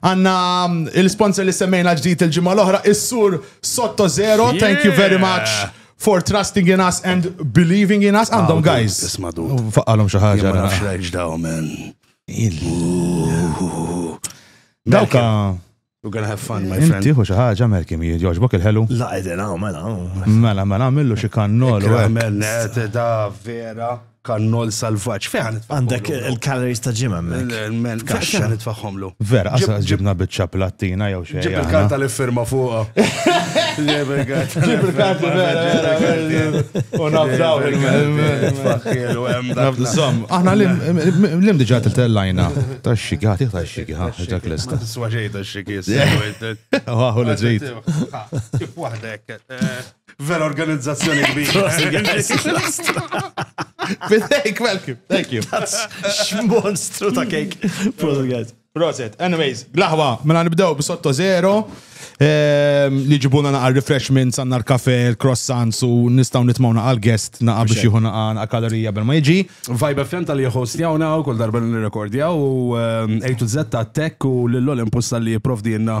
Għanna il-sponsor li semmejna ġdijt il-ġimma l-oħra, is-sur Sotto Zero, thank you very much for trusting in us and believing in us. Għandhom guys. Ismadu. Faqqalhom xi ħaġa. Ma nafx rajx daw men. Dawka. We're gonna have fun, my friend. Tiħu xi ħaġa Malcolm jogħġbok il-ħelu. La qegħdin hawn mela. Mela mela għamillu xi kannol. Mela da vera. Kannol salvaġġ, fejn ħanitfaħħom. Għandek il-calories ta' ġimgħa hemmhekk. Fejn ħanitfaħħomlu. Vera, għasa ġibna biċċa plattina jew xejn. Ġib il-karta li firma fuqha. Ġib il-karta. Ġib il-karta vera. U nafdaw il-faħħielu hemm dak. Żomm, aħna l-im diġà tiltellajna. Tax-xiki, ħatiħ tax-xiki, ħa, ġak lesta. Tiswa xejn tax-xiki. Waħu li ġejt. Kif waħdek. Vera organizzazzjoni kbira. Thank you, thank you. X'monstru ta' kejk. Proset, guys. Proset. Anyways, laħwa, mela nibdew b'sotto zero. Ehm, li ġibuna naqal refreshments, għanna l-kafe, l-croissants u nistaw nitmaw naqal guest naqa biex jieħu naqa naqal kalorija bel ma jġi. Vibe FM tal-li jħostjawna u kol darba n-rekordjaw u ehm, A to Z ta' tech u l-Olympus tal-li jiprovdi jenna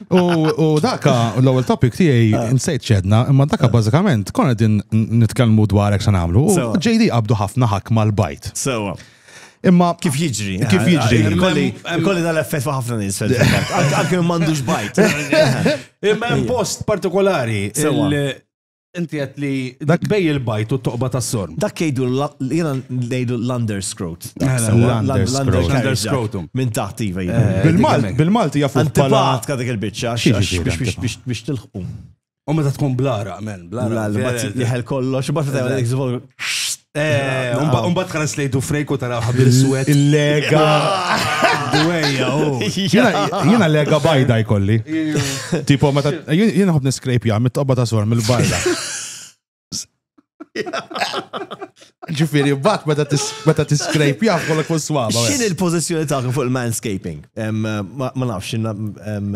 U daka, l-ewwel topic tiegħi ah. nsejt ċedna, imma daka ah. bażikament konna din nitkellmu dwar hekk se nagħmlu. JD qabdu ħafna ħakk mal-bajt. Sewa. Imma kif jiġri? Kif jiġri? Kolli dal-effett fa' ħafna nies Anke m'għandux bajt. Imma hemm post partikolari. Inti għet li dak bej il-bajt u t-toqba ta' sorm. Dak jgħidu jena ngħidu l-underscrot. L-underscrotum. Minn taħt iva jgħidu. Eh, Bil-Malti, bil-Malti jafu. Antibat ka dik il-bicċa biex tilħqu. U meta tkun blara, men, blara. Jħel kollox, bat Eh, umba- Umbat translate u frejku tara ħabir swet. Il-lega. Dwejja, oh. Jena- Jena lega bajda jkolli. Tipo, meta jien jien nħobb niskrejpja mit-tobba ta' sor mill-barra. Ġifieri, bat meta tis- meta tiskrejpja kollok fuq swaba. X'in il-pożizzjoni tagħkom fuq il-manscaping? Em, Ma ma nafx, x'in- em,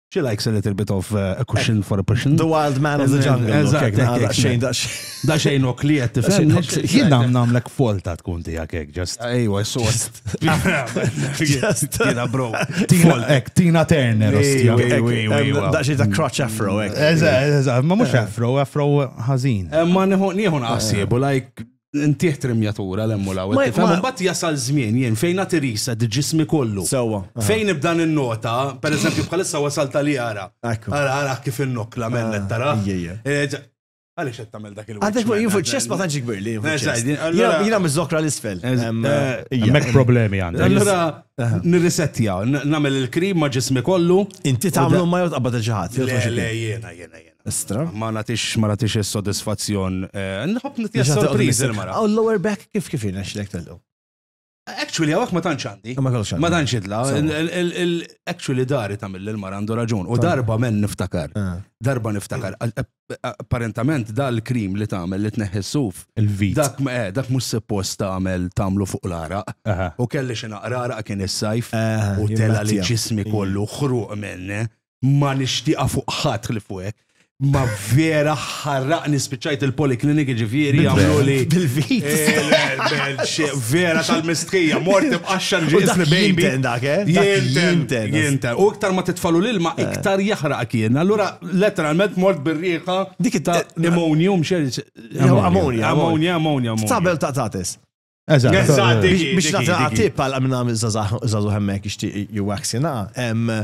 She likes a little bit of uh, a cushion eh, for a cushion. The wild man of the jungle. Eżatt, xejn Da xejn ok li jett tifhem. Jien nam namlek folta tkun tiegħek hekk just. Ejwa, sort. Tina bro. Ek, Tina Turner. Da xejn ta' crotch afro hekk. Eżatt, eżatt, ma mhux eh. afro, afro ħażin. Eh, ma nieħu nieħu naqsibu like Ntih trimjatura l-hemm u l-hawn. Mbagħad jasal żmien jien fejn nagħti risa ġismi kollu. Sewwa. Fejn nibda ninnota, pereżempju bħalissa wasal tal ara. Ara, ara kif innokla mennet tara. Għaliex qed tagħmel dak il-waqt. Għadek jien fuq ċess ma tantx kbir li. Jiena miżokra l-isfel. Hemmhekk problemi għandek. Allura nirrisettja, nagħmel il-krim ma' ġismi kollu. Inti tagħmlu ma jgħod qabad il-ġaħat. Le, le, jiena, jiena, jiena. Estra. Ma natix, ma natix il-sodisfazzjon. Eh, nħob nitija sorpriz il-mara. Għaw l-lower back kif kif jina xlek tal-lu? Actually, għawak ma tantx għandi. Ma tantx idla. Actually, dari ta' mill mara għandu raġun. U darba men niftakar. Ah. Darba niftakar. Apparentament, dal-krim li tagħmel li tneħħissuf. Il-vit. Dak eh, dak mhux suppost tagħmel tagħmlu fuq l-ara. U kelli xi naqrara kien is-sajf u tela li ġismi kollu ħruq menne. ma nixtieqa fuq ħadd ħlif fuq hekk. Ma vera ħarraqni spiċċajt il-poliklinik ġifieri għamlu li. Bil-vit. Eh, vera tal-mistħija, mort imqaxxan ġisni baby. Eh? Jinten, jinten. U iktar ma titfalu l-ilma, eh. iktar jaħraq kien. Allura, letteralment mort bir-riħa. Dik ta' ammonium, xer. Ammonia, ammonia, ammonia. Sabel ta' tatis. Eżatt. Eżatt, biex nagħti tip għal minn zazu hemmek ixtieq juwaxina, hemm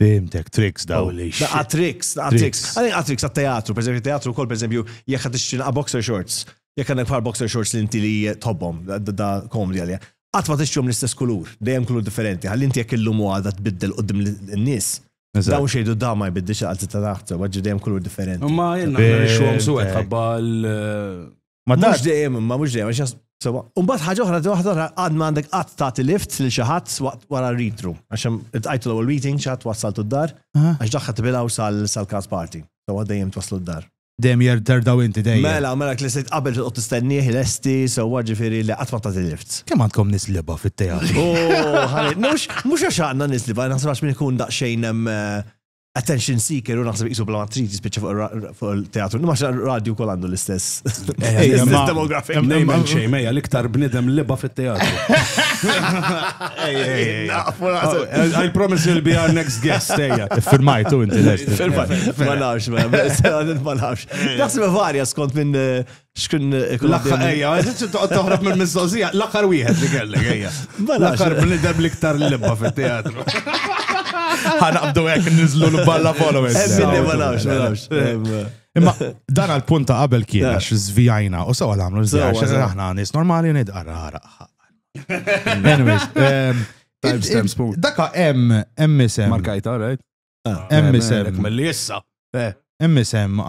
Fimtek, tricks daw li. Daqa tricks, daqa tricks. Għalin daqa tricks għat-teatru, per eżempju, teatru kol, per eżempju, jek għat ixtri naqa boxer shorts, jek għandek par boxer shorts li inti li tobbom, da komdi għalja. Għat ma tixtrom l-istess kulur, dejjem kulur differenti, għal inti jek illum u għada tbiddel u dim l-nis. Daw xejdu da ma jbiddix għal ta' taħt, għagġi dejjem kulur differenti. Ma jenna xom suħet, għabba l- Ma Mhux dejjem, ma mhux dejjem, għax Sewa, unbat ħaġa oħra, di waħda oħra, għad ma għandek għad ta' lift li xaħat waqt wara ritru. Għaxem, għajtu l-ewel meeting, xaħat wassaltu d-dar, għax daħħa t-bilaw sal-kas party. Sewa dejjem twaslu d-dar. Dejjem jer terdaw inti dejjem. Mela, mela, li sejt qabel t-qot t-stenniħ, l-esti, sewa ġifiri li għatma ta' lift. Kem għandkom nisliba fit-teatru? Oh, mux għax għanna nisliba, nasrax minn ikun daqxejn eh, attention seeker u naħseb jisu bla matrit jispiċċa fuq il-teatru. Ma xa radju kol għandu l-istess. Demografik. Nejmen xej, meja l-iktar bnidem liba fit-teatru. I promise you'll be our next guest, eja. Firmajtu inti l-est. Ma nafx, ma nafx. Naħseb varja skont minn Xkun L-aħħar ejja, toqgħod toħrob minn mistoqsija, l-aħħar wieħed li kellek ejja. Mela, L-aħħar bnidem l-iktar l-libba fit-teatru. Ħanaqbdu hekk niżlu l-balla followers. Ebbilli ma nafx, ma nafx. Em, Imma dan għal punta qabel kien Yeah. għax zvijajna u sewa l-għamlu Sewa, zvijaj, xaħna sewa. aħna nis normali nid għarra Anyways, em, Timestamp spoon. Daka em, em isem. Markajta, right? Hemm isem. Milli issa. Hemm isem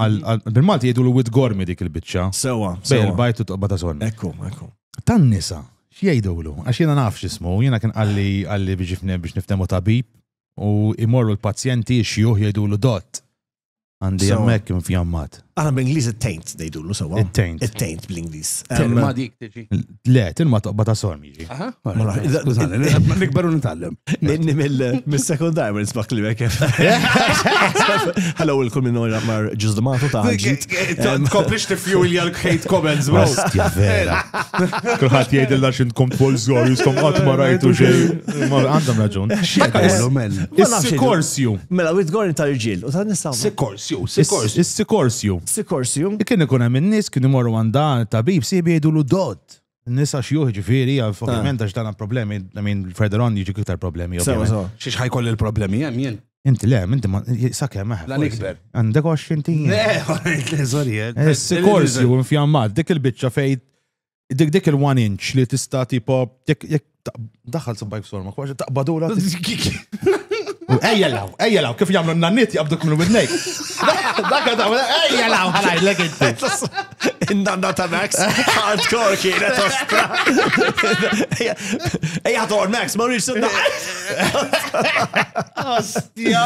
bil-Malti jgħidu l-wid gormi dik il-biċċa. Sewa. Bejl bajtu toqba ta' sonn. Ekku, ekku. Tan-nisa, x'jgħidulu? Għax jiena naf x'ismu, jiena kien qalli qalli biex niftemu tabib u imorru l-pazjenti xjuħ jgħidulu dott. Għandi hemmhekk infjammat. Aħna bl-Ingliż it-taint ngħidulu sewwa. It-taint. It-taint bl-Ingliż. Tilma dik tiġi. Le, tilma toqba ta' sorm jiġi. Nikberu nitgħallem. Inni mill-sekondar ma nisbaq li kif. Hello il-kull minn ora mar ġużdmatu ta' ġid. Tkomplix tifjulja l-hate comments, bro. Stja vera. Kulħadd jgħidilna x'intkom tkoll żgħar jiskom qatt ma rajtu xejn. Għandhom raġun. X'għallu mel. Is-sikorsju. Mela, witgorn tal-ġil u tal-nisa. Sju, Sikorsju. Is-Sikorsju. Sikorsju. Kien ikun hemm in-nies kien imorru għand dan it-tabib siebi jgħidulu dod. Nisa xjuħ ġifieri, għaf, ovvjament għax dan problemi, I mean, further on jiġu iktar problemi. Sewa, ovvjament. sewa. Xiex ħajkoll il-problemi hemm jien. Inti le, inti ma sakemm eħ. La forsi. nikber. Għandek għax inti. Le, sorry. eh. Is-Sikorsju infjammat dik il-biċċa fejn Dik dik il-one inch li tista' tipo jekk jekk ta- daħal sabbajk sorma, kwaġi taqbadura. Ejja law, ejja law, kif jagħmlu n-nanniet jaqbduk minn widnejk. Dakka ta' ejja law, ħalajlek inti. Nanna ta' Max, hardcore kienet ostra. Ejja, Thor Max, ma rridx sunna. Ostja.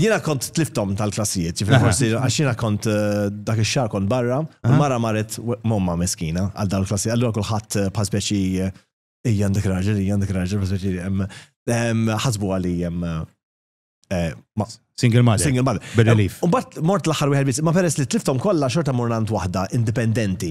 Jiena kont tliftom tal-klassijiet, ġifir forsi għax jiena kont eh, dak ix-xahar kont barra, u mara marret momma meskina għal dawn il-klassijiet. Allura kulħadd eh, bħal speċi eh, ejja għandek raġel, ejja għandek raġel, bħal speċi em, em, ħasbu għali em, eh, ma- Single mother. single mother. Bir-relief. U bat mort l-aħħar wieħed biss, ma peress li tliftom kollha xorta mur għand waħda indipendenti.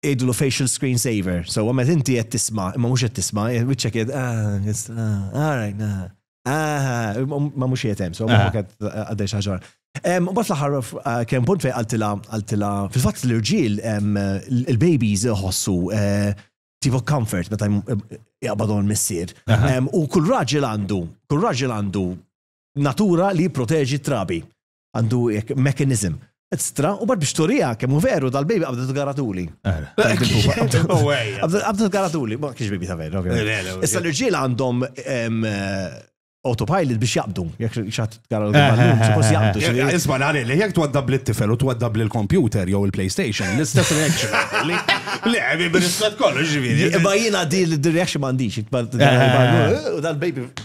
Jgħidulu facial screen saver. So, għamet inti qed tisma, imma mhux qed tisma, wiċċek qed alright, ma mhux qed hemm, so ma qed għaddej xi ħaġa. Mbagħad l-aħħar kemm punt fejn qaltilha qaltilha fil-fatt l-irġiel il-babies iħossu tipo comfort meta jaqbadhom missier. U kull raġel għandu, kull raġel għandu natura li jipproteġi trabi. għandu jek mekanizm. Stra, u bad biex turija, kemmu veru, dal-baby għabdet garatuli. Għabdet garatuli, ma kiex baby ta' veru, ovvijament. Issa l-irġiel għandhom autopilot biex jaqbdu, jek xat gara eh, eh, eh, suppost jaqbdu. Isma nari li jek twaddab li t-tifel u twaddab li l-computer jew il-PlayStation, l-istess reaction. Le, għabi bil-istat kollu ġivini. Imma jina di l-reaction mandiċ, dal-baby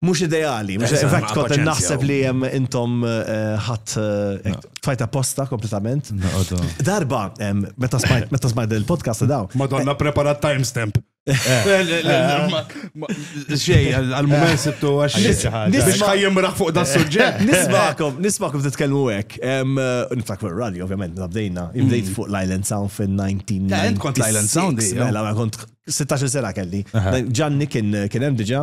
mhux ideali. In fact, kont naħseb li hemm intom eh, ħadd eh, tfajta posta kompletament. Darba, meta smajt il-podcast daw. Madonna preparat timestamp. Xej, għal-moment sittu għax. Biex ħajjem raħ fuq da suġġett. Nismakom, nismakom titkellmu hekk. Eh, Niftak fuq rally, ovvjament, nabdejna. Imbdejt mm. fuq l-Island Sound fin-19. Kont l-Island Sound, mela, kont 16 sena kelli. Ġanni kien hemm diġà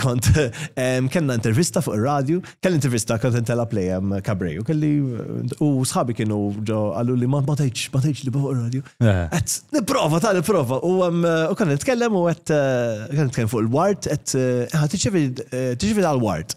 Kont, kellna intervista fuq il-radio, kelli intervista kont intela play kabreju, kelli u sħabi kienu ġo għallu li ma tajċ, ma tajċ li fuq il-radio. Għet, niprofa, ta' niprofa, u kan nitkellem u għet, kan nitkellem fuq il-wart, għet, ħat tiċivi għal-wart.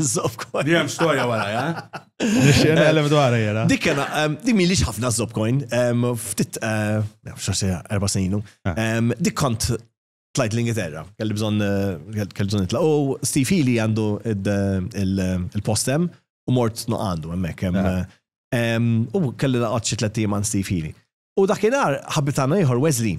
Zob coin. Di hemm storja wara, ja? Nixxena għalem dwar jena. Dik kena, di mi liġ ħafna zob coin, ftit, eh, xorse, erba sejnu. Ah. Dik kont tlajt l-Ingilterra, kelli bżon, eh, kelli bżon itla. U Steve Healy għandu il-postem u mort no għandu, emmek. Ah. Eh, u kelli laqat xi tlet Steve Healy. U dakinhar ħabitana ieħor Wesley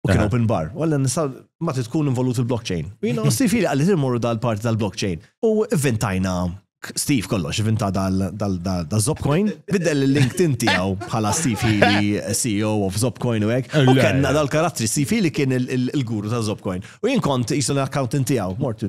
U kien open bar. U għallen nisa ma tkun involut il-blockchain. U jina Steve Healy għalli t-morru dal-parti tal-blockchain. U vintajna Steve kollox, vinta dal-Zopcoin, biddel il-link tinti għaw bħala Steve Healy, CEO of Zopcoin u għek. U kena dal-karattri, Steve Healy kien il-guru ta' Zopcoin. U jien kont jisun l-accountant tijaw, mortu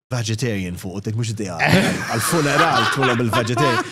vegetarian fuq u dik mhux idea għal-funeral tkun bil vegetarian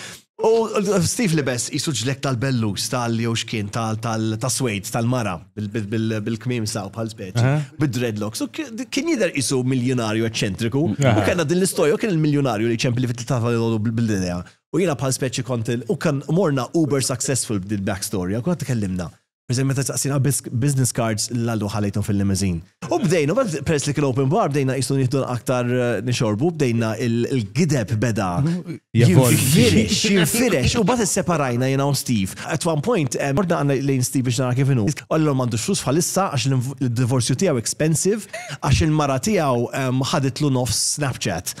U Steve li bess jisu ġlek tal-bellus tal-jew xkien tal-swejd tal-mara bil-kmim saw bħal speċi, bid-dreadlocks. Kien jider jisu miljonarju eċċentriku. U kena din l-istoria, kien il-miljonarju li ċempli fit tafal bil-idea. U jina bħal speċi kont u kan morna uber successful b'dil backstory, u kont kellimna. Pereżempju meta saqsina business cards l-għadu ħalejthom fil-limousine. U bdejna, peress li kien open bar, bdejna qisu nieħdu aktar eh, nixorbu, bdejna il-gideb beda. Jinfirex, jinfirex, u bat separajna jena u Steve. At one point, eh, morda għanna lejn Steve biex nara kif inhu. Għallu m'għandux flus bħalissa għax il-divorzju tiegħu expensive għax il-mara tiegħu eh, ħaditlu nofs Snapchat.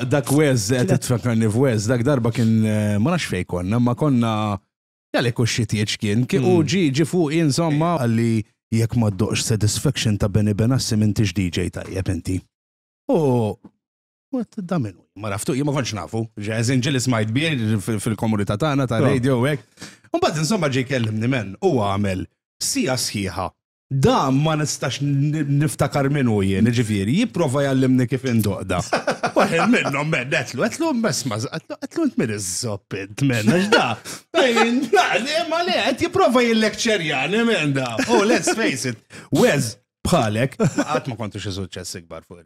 Dak wez, qed tfakkarni f'wez, dak darba kien eh, ma nafx fejn konna, ma konna jgħalek u xitieċ kien, kien u hmm. ġi ġi fuq insomma għalli jekk ma ddoqx satisfaction ta' Benny Benassi minn tix DJ tajjeb inti. U da minnu, ma raftu, ma konċ nafu, ġeħzin ġelis ma jtbir fil-komunità tagħna ta' radio u hekk. Mbagħad insomma ġej kellimni men u għamel sija sħiħa Dan ma nistax niftakar min hu jien, jiġifieri, jipprova jgħallimni kif indoqda. Waħed minnhom men, qedlu, qedlu mesma, qedlu int min iżżopp int men, għax da. Ma le, qed jipprova jillekċerjani men da. Oh, let's face it, Wes bħalek, qatt ma kontu xi suċċess ikbar fuq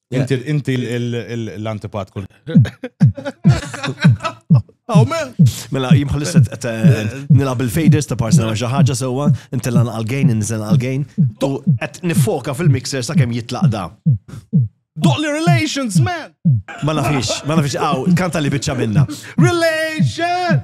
Inti inti l- l- l- l-antipat kull. Oh, man. Mela, jim bħalissa qed, eh, nilab il-faders ta' parsi nagħmel xi ħaġa sewwa, intillan għal-gain, inżel għal-gain. Tu qed nifoka fil-mixer sakemm jitlaq da. Doqli relations, man. Ma nafix, ma nafix, għaw, kanta li biċċa minna. Relation!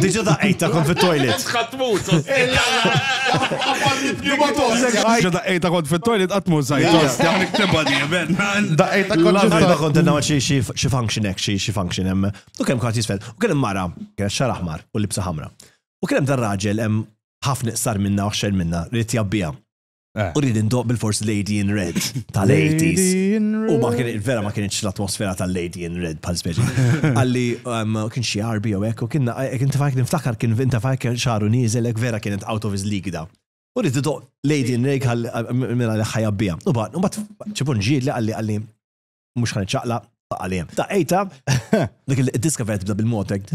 Diġa da ejta kon fit toilet Għatmut, Diġa da ejta kon fit toilet għatmut sajtos. Għan iktiba di, ben. Da ejta kon fit toilet. Kont għanna xie function ek, xie function em. U kem kħat jisfel. U kem mara, kienet xar aħmar u libsa ħamra. U kem dar raġel em ħafna iqsar minna u xer minna li tjabbija. U rrid indoq bil-fors Lady in Red tal-80s. U ma kien vera ma kienx l-atmosfera tal-Lady in Red bħal speċi. Għalli um, kien xi arbi jew hekk u kien kien tifajk niftakar kien vinta fajk kien xaru nieżel hekk vera kienet out of his league da. U rrid indoq Lady in Red għal mela li ħajja bija. U bad, u bad ċipun ġieli għalli għalli mhux ħan iċċaqlaq għalija. Ta' ejta, dik il-diska vera tibda bil-motek.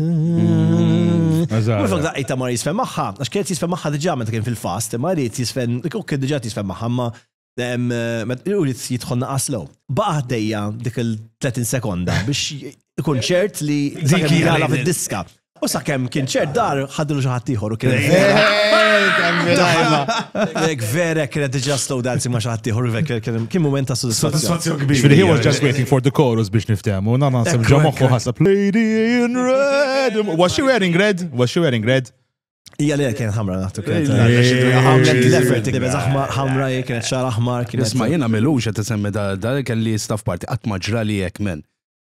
Mux da' ejta ma jisfen maħħa, għax kienet jisfen maħħa diġa meta kien fil-fast, ma rrit jisfen, u kien diġa jisfen maħħa, ma u rrit jitħonna aslow. Baqa ħdejja dik il-30 sekonda biex ikun ċert li dik hija fid-diska. U sa' kem kien ċert dar ħadlu xi ħadd ieħor u kien. Ek vera kienet diġà slow dancing ma' xi ħadd ieħor kien mument ta' soddisfazzjon kbir. Ġifieri he was just waiting for the chorus biex niftehmu. Na naħseb ġo moħħu ħasab Lady in red. Was she wearing red? Was she wearing red? Ija li kien ħamra naħtu kienet. Għamlet l-effort li bezax ħamra jek kienet xar aħmar kienet. Isma jena melux għet semmi da kelli staff party għat maġra li jek men.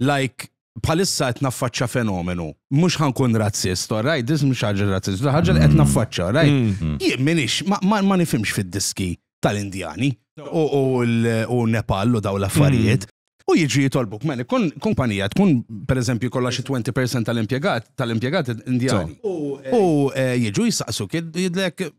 like bħalissa qed naffaċċa fenomenu. Mhux ħankun razzist, all right, dis mhux ħaġa razzist, ħaġa li qed mm. naffaċċa, all right. Mm. Mm. Jien minix, ma nifhimx fid-diski tal-Indjani u Nepal u daw l-affarijiet. U jiġi jitolbuk, meni, kun kumpanija tkun, per eżempju, kolla xi 20% tal-impiegat, tal-impiegat indjani. U eh, jiġu jisaqsu, jidlek,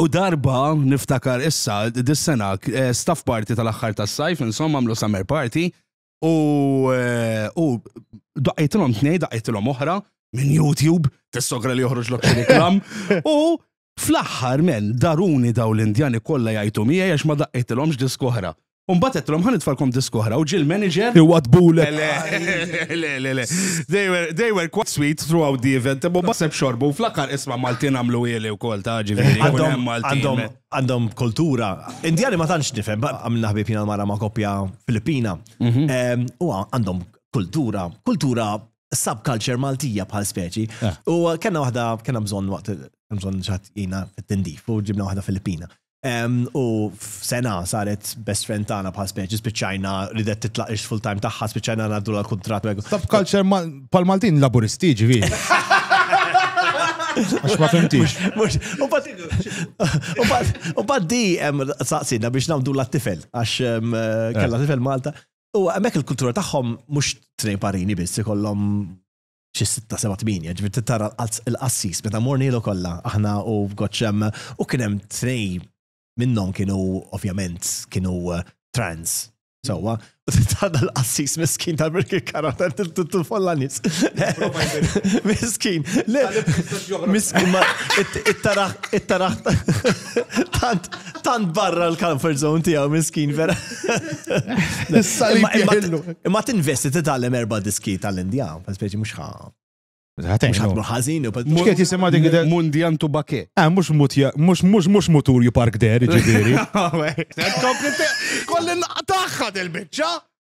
U darba, niftakar issa, dis-sena, eh, staff party tal-axħar tas-sajf, insomma, għamlu summer party, u eh, u daqqitlhom tnej, daqqitlhom oħra, minn YouTube, tissogra li joħroġ l reklam, u fl-axħar men, daruni daw l-Indjani kollha jgħajtu miegħi għax ma daqqitlhomx disk oħra. U mbagħad għedtlhom ħa nitfalkom disk oħra u ġiel manager. Iwadbulek. Le, le, le, le. They were, they were quite sweet throughout the event, imma ma seb xorbu, fl-aħħar isma' Maltin għamlu ili wkoll ta' ġifieri. jkun Għandhom hemm Maltin. għandhom għandhom kultura. Indjani ma tantx nifhem, ba- għamilna ħbib jiena mara ma' koppja Filippina. Em, U għandhom kultura, kultura subculture Maltija bħal speċi. U kellna waħda, kellna bżonn waqt, kellna bżonn ċat jina fit-tindif u ġibna waħda Filippina. U f'sena saret best friend tagħna bħal speċi, spiċċajna ridet titlaq ix-full time tagħha, spiċċajna ngħaddu l kuntratt Sub culture pal Maltin laburisti ġifieri. Għax ma fimtix. U bad di saqsina biex namdu la tifel għax eh. kella tifel Malta. U għamek il-kultura tagħhom mhux tnej parini biss ikollhom xi sitta seba' tmienja, ġifieri tara l-qassis meta mornielu kollha aħna u goċċem u kien hemm tnej minnhom kienu ovvjament kienu eh, trans. Sewwa, u tara l-qassis miskin ta' birki karata t-tufolla nis. Miskin, le, miskin, it-taraħ, it-taraħ, Tant, tant barra l-comfort zone tijaw miskin vera. Imma t-investi t-tallem erba diski tal-Indija, speċi mux ħa. Mux ħatmu ħazin, mux kiet jisima dik Mundian Tubake. Ah, mux mux mux mux mutur ju park der, ġiviri. Kolli naqtaħħa del-bicċa.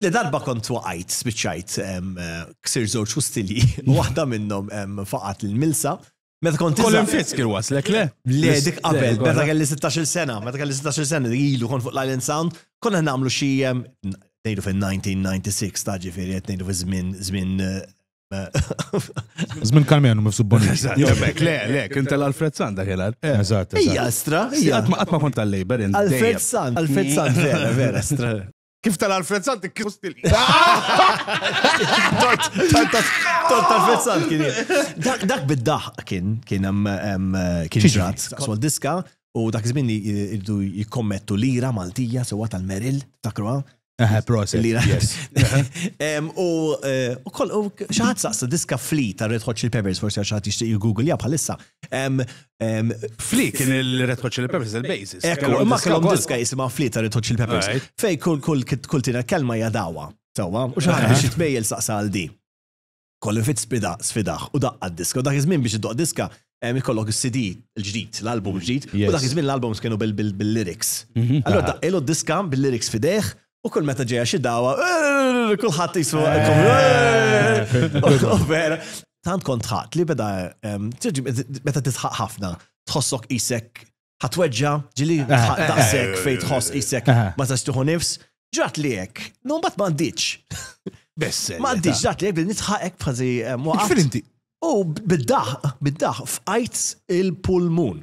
Li darba kont waqajt, spiċċajt, ksir żewġ fustilji, waħda minnhom faqat l-milsa. Meta kont Kolin fisk il-waslek, le? Le, dik qabel, meta kelli 16 sena, meta kelli 16 sena li ilu kont fuq l-Island Sound, konna nagħmlu xi nejdu fil-1996 ta' ġifieri qed nejdu fil-żmien żmien Zmin kalmenu mifsub boni. Jomek, le, le, kien tal-Alfred Sand dak il Eżatt. Ija, stra. Għatma kont tal-Labor. Alfred Sand, Alfred Sand, vera, vera, stra. Kif tal-Alfred Sant kif stili. Tort tal-Alfred Sant kien. Dak bid-daħ kien kien kien ġrat, sol diska u dak żmien li jridu jikkommettu lira Maltija sewa tal-Meril, takruha. Eħe, proset. U xaħat saqsa diska fli ta' Red Hot Chili Peppers, forse xaħat jishtiq il-Google ja bħalissa, Fli kien il-Red Hot Chili Peppers il-basis. Ekku, imma kellhom diska jisimha Fli ta' Red Hot Chili Peppers. Fej kull kull kull tina kelma jadawa. Sawa, u xaħat biex jitmejjel saqsa għal di. Kollu fit spida, sfidaħ, u daqqa diska. U dak iż-żmien biex id-doq diska, ikollok il-CD il-ġdid, l-album ġdid, u dak iż-żmien l-albums kienu bil-lyrics. Mhm. Allora daqqilu diska bil-lyrics fidejh, U kull meta ġeja xi dawa, eh, kulħadd jisu vera. Tant kont ħadd li beda meta tisħaq ħafna, tħossok isek ħatweġġa ġili daqsek fejn tħoss isek ma tistuħu nifs, ġrat li hekk, no mbagħad ma għandix. Bess. Ma għandix ġrat li hekk nitħaqek fażi waqgħet. U bid-daħ, bid-daħ f'qajt il-pulmun.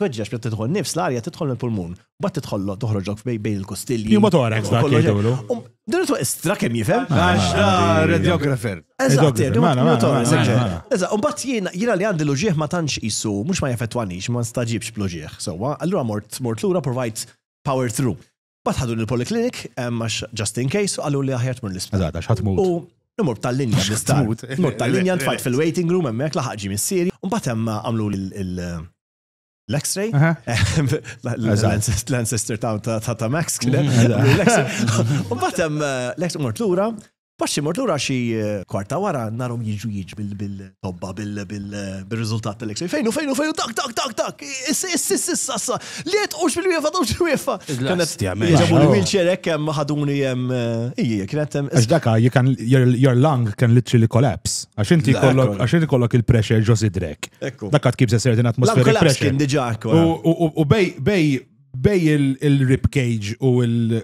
Tweġġeġ, meta tidħol nifs, l-arja tidħol mill-pulmun, mbagħad tidħol toħroġok bejn il-kostilji. Pneumotorax dak jgħidulu. Din huwa istra kemm jifhem? Għax radiographer. Eżatt, pneumotorax. Eżatt, mbagħad jiena jiena li għandi l-uġieħ ma tantx qisu, mhux ma jaffettwanix, ma nstaġibx bl-uġieħ. Sewwa, allura mort mort lura provajt power through. Bat ħadun il-poliklinik, għax just in case, għallu li aħjar tmur l-isptar. Eżatt, għax ħatmut. U nimur tal-linja l-isptar. Nimur tal-linja ntfajt fil-waiting room, emmek laħaq ġi missieri, u bat hemm għamlu l-x-ray. L-ancestor ta' ta' Max, mm, l-x-ray. U bat hemm l-x-ray mort l-ura, Paċi mort lura xi kwarta wara narhom jiġu jiġbi bil-tobba bil-riżultat tal-X-ray. Fejnu, fejnu, fejnu, tak, tak, tak, tak, issa, issa, issa, issa, issa, li qed ux bil-wiefa, tux bil-wiefa. Ġabu li milċer hekk hemm ħaduni hemm ija, kien hemm. Għax daka, you can, your lung can literally collapse. Għax inti kollok, għax inti kollok il-pressure ġo sidrek. Daka tkib se certain atmospheric pressure. Kien diġà U bej, bej, bej il-rib cage u il-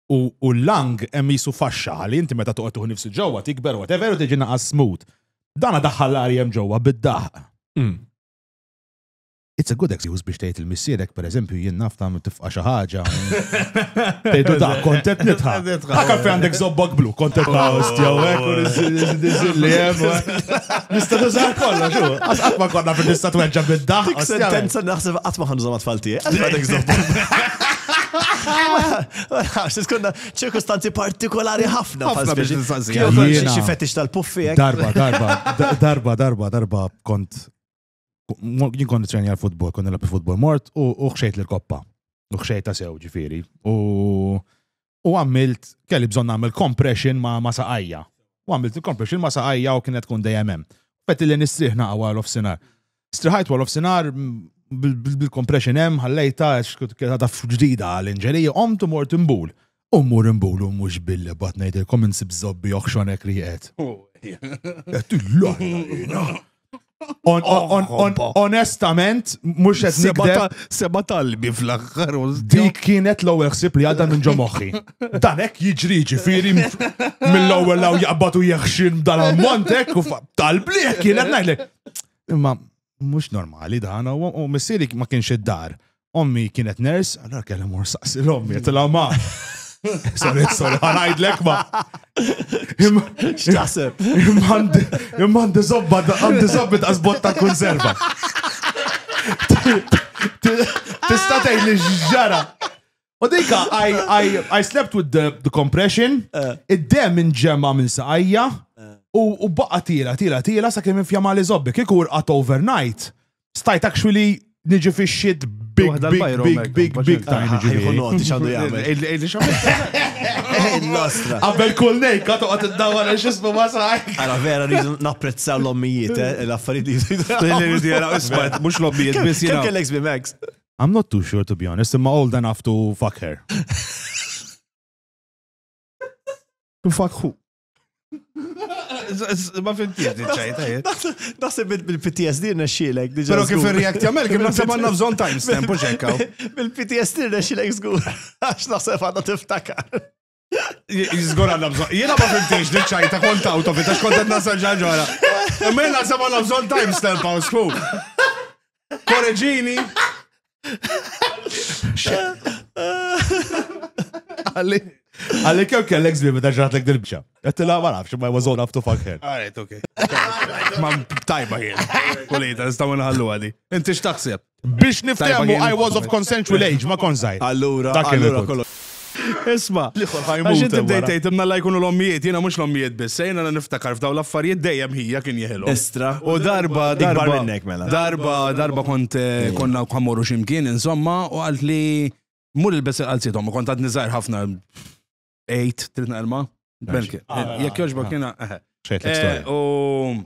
u u l-lung hemm qisu faxxa ħalli inti meta toqgħod tuħu nifsu ġewwa tikber u whatever u tiġi naqas smooth. Dana daħħal l-arja hemm ġewwa bid-daħq. It's a good excuse biex tgħid il-missierek pereżempju jien naf tagħmel tifqa' xi ħaġa. Tgħidu da kont qed nidħaq. Dak għalfejn għandek żobbok blu, kont qed ta' ostja u hekk u niżil li hemm. u hekk. Nista' tuża kollox u qatt qatt ma konna fil nista' tweġġa' bid-daħq. Dik ostja. sentenza naħseb qatt ma ħanżhom għat-tfal tiegħi. Għalfejn għandek żobbok? Għax, skonna ċirkustanzi partikolari ħafna. Ħafna biex nsanzi. Xi fetix tal-puffi. Darba, darba, darba, darba, darba, kont. Jien kont treni għal-futbol, kont nilab futbol mort u xejt l-koppa. U xejt ta' sew ġifiri. U għamilt, kelli bżon għamil compression ma' saqajja. U għamilt il-compression ma' saqajja u kienet kun dejjem hemm. Fetti li nistriħna għawal of sinar. Striħajt wara f'sinar bil-compression hemm ħallejta għax taf ġdida għall-inġerija, qomt u mort imbul. U mur imbul u mhux billi bat ngħidilkom insib żobbi oħxonek li qed. Qed illajna Onestament, mhux qed nikdeb. Seba talbi fl-aħħar. Dik kienet l-ewwel ħsieb li għadha minn ġo moħħi. Dan hekk jiġri ġifieri mill-ewwel law jaqbad u jeħxin dan ammont hekk u talb li kienet ngħidlek. Imma mhux normali dan, u missieri ma kienx id-dar. Ommi kienet ners, allora kellha mor saqsi l-ommi, tila ma. Sorry, sorry, ħanajdlek ma. X'taħseb? Imma għandi zobba, għandi zobba ta' zbot ta' konserva. Tista' tgħid li ġara. U dika, I, I, I slept with the, the compression, eh. id-dem inġemma minn saqajja, eh. u, u baqa tila, tila, tila, sa' kem infjama li zobbi, kiku urqat overnight, stajt actually niġi fi shit big, big, big, big, big time niġi. Jħu noti xandu jgħamil. Illi xamil. Nostra. Għabbel kull nej, katu għat id-dawar għax jismu masaj. Għara vera, rridu napprezza l-ommijiet, eh, l-affarijiet li jisidu. Mux l-ommijiet, bis jina. Kellek zbi Max. I'm not too sure to be honest, imma old enough to fuck her. to fuck who? Ma fimtiex din ċajta. Naħseb bil-PTSD nexxielek. Pero kif react jamel, kif naħseb għandna bżonn timestamp u ċekkaw. Bil-PTSD nexxielek żgur. Għax naħseb għandna tiftakar. Jizgur għanna bżon. Jena ma fimtiex li ċajta kont out of it, għax kont għanna saġġa ġara. Imma jena għasab għanna bżon timestamp għaw sfu. Korreġini. Għalli. Għalli kew kellek zbib ta' ġratlek dil-bċa. Għattila ma nafx, ma was old enough to fuck her. Għaret, ok. Ma tajba jien. Kulita, nistaw nħallu għadi. Inti x'taħseb? Biex niftehmu I was of consensual age, ma kontx żgħir. Allura, Dak kien allura il-punt. kollox. Isma', L-ieħor ħa għax jmut inti hemm bdejt wara. tgħid imma alla jkunu l-ommijiet, jiena mhux l-ommijiet biss, se jiena niftakar f'dawn l-affarijiet dejjem ħija kien jeħilhom. Estra. U darba, Ikbar darba, minnek, mela. darba, darba kont eh, konna ħa mmorru xi mkien, insomma, u qalt li mur ilbes il-qalziet ommi, kont għadni żgħir ħafna. Ejt, trid naqilma? Belki. Jekk jogħġbok jiena. eħe. Xejtlek Eh, storja. U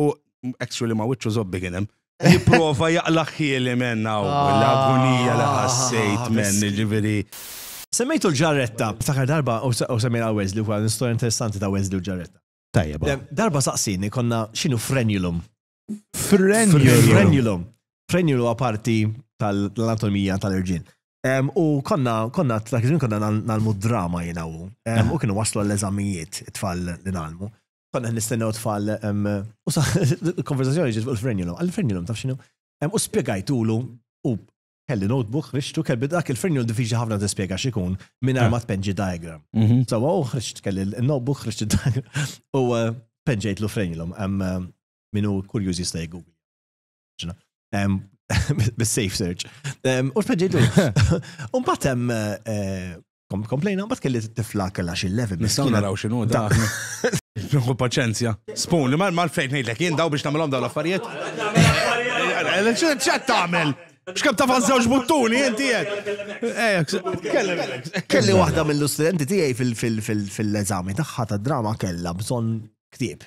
U extra li ma wiċċu zobbi kien hemm. Jipprova jaqlaq ħieli men hawn ah, l-agonija li ħassejt ah, men ġifieri. Semmejtu l-ġarretta, ftakar darba u semmejna Wesley wkoll l-istorja interessanti ta' Wesley u l-ġarretta. Tajjeb. Darba saqsini konna x'inhu frenulum. Frenulum. Frenulum huwa parti tal-anatomija tal-irġiel. U konna, konna, dak iż konna nalmu drama jinawu. U kienu waslu għall-eżamijiet, it-tfal li nalmu. Konna qed nistennew tfal u sa konversazzjoni ġiet fuq il-frenulum. Għall-frenulum taf x'inhu? U spjegajtulu u kelli notebook, ħriġtu, kelli dak il-frenjul diffiċli ħafna tispjega x'ikun minn ma tpenġi diagram. Mhm. So, u ħriġt kelli l-notebook, ħriġt diagram u eh, penġejtlu frenjulum. Eh, Minu kurjuż jista' jgugli. bis-safe search. U speġidu, un batem eh, komplejna, bat kelli t-tifla kella xil levi Nistaw naraw xinu da. Nħu paċenzja. Spoon, li mal fejn nejlek, jien daw biex namilom daw l-affarijiet. ċet tamel? Xkab ta' fazzawx buttuni, jenti jek. Kelli wahda mill-studenti tijaj fil-eżami taħħa ta' drama kella bżon ktib.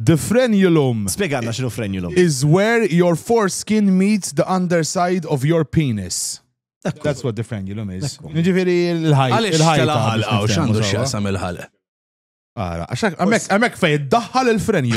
The frenulum. Spjegalna x'inhu frenulum. Is where your foreskin meets the underside of your penis. That's what the frenulum is. Ġifieri l-ħajt. Għaliex tal-ħalqa u x'għandu x'jaqsam il-ħalqa? Ara, għax hemmhekk fejn iddaħħal il-frenju.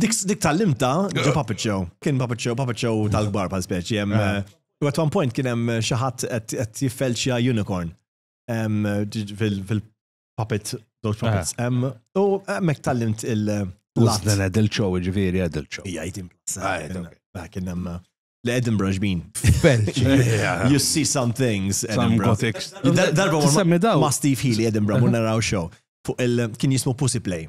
Dik dik tal-limta ġo Puppet Show. Kien Puppet Show, Puppet Show tal-kbar pal speċi. hemm, Ah. eh, U at one point kien hemm eh, xi ħadd qed qed jiffelċja unicorn. Em, ġi- fil- Fil-puppet, those puppets. Ah. Em, U hemmhekk tal-limt il- eh, Plus l-att. dan adult show, ġifieri adult show. Ija, jitim. Ah, yeah, okay. Ah, Kien hemm eh, l-Edinburgh ġbin. Belġi. You see some things, Some Edinburgh. gothic. Dar- Darba Tissemmi daw. ma' Steve Healy Edinburgh, mu naraw show. Fuq il- kien jismu Pussy Play.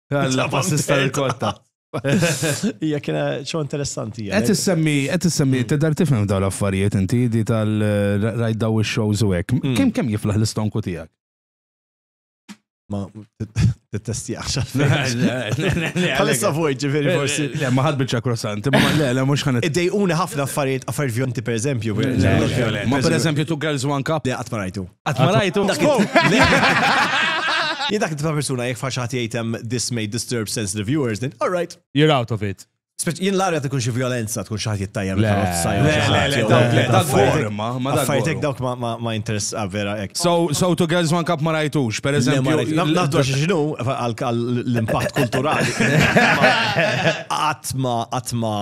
Għal-bassista rikorta. Ija kena ċo interessanti. Għet semmi għet semmi hmm. t-dar tifem daw l-affarijiet inti di tal-rajt daw il-shows u għek. Hmm. Kem kem jiflaħ l-istonku tijak? Ma t-testi għaxan. Għalissa fuq ġifiri forsi. Le, ma ħad bieċa krossanti, ma le, le, mux ħanet. Id-dej uni ħafna affarijiet affarijiet vjonti per eżempju. Ma per eżempju tu Girls One Cup. Le, għatma rajtu. Qatt ma rajtu. Jien dak ta' persuna jekk faxat jgħidem this may disturb sensitive viewers, then all right. You're out of it. Jien l-arja tkun xi violenza, tkun xi ħadd jittajjem Affaritek dawk ma interess ah, vera hekk. So to girls one cup ma rajtux, per eżempju. Nafdu għax xinu l-impatt kulturali. Atma, atma.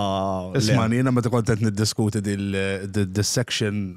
Isma' jiena meta kont qed niddiskuti dil-section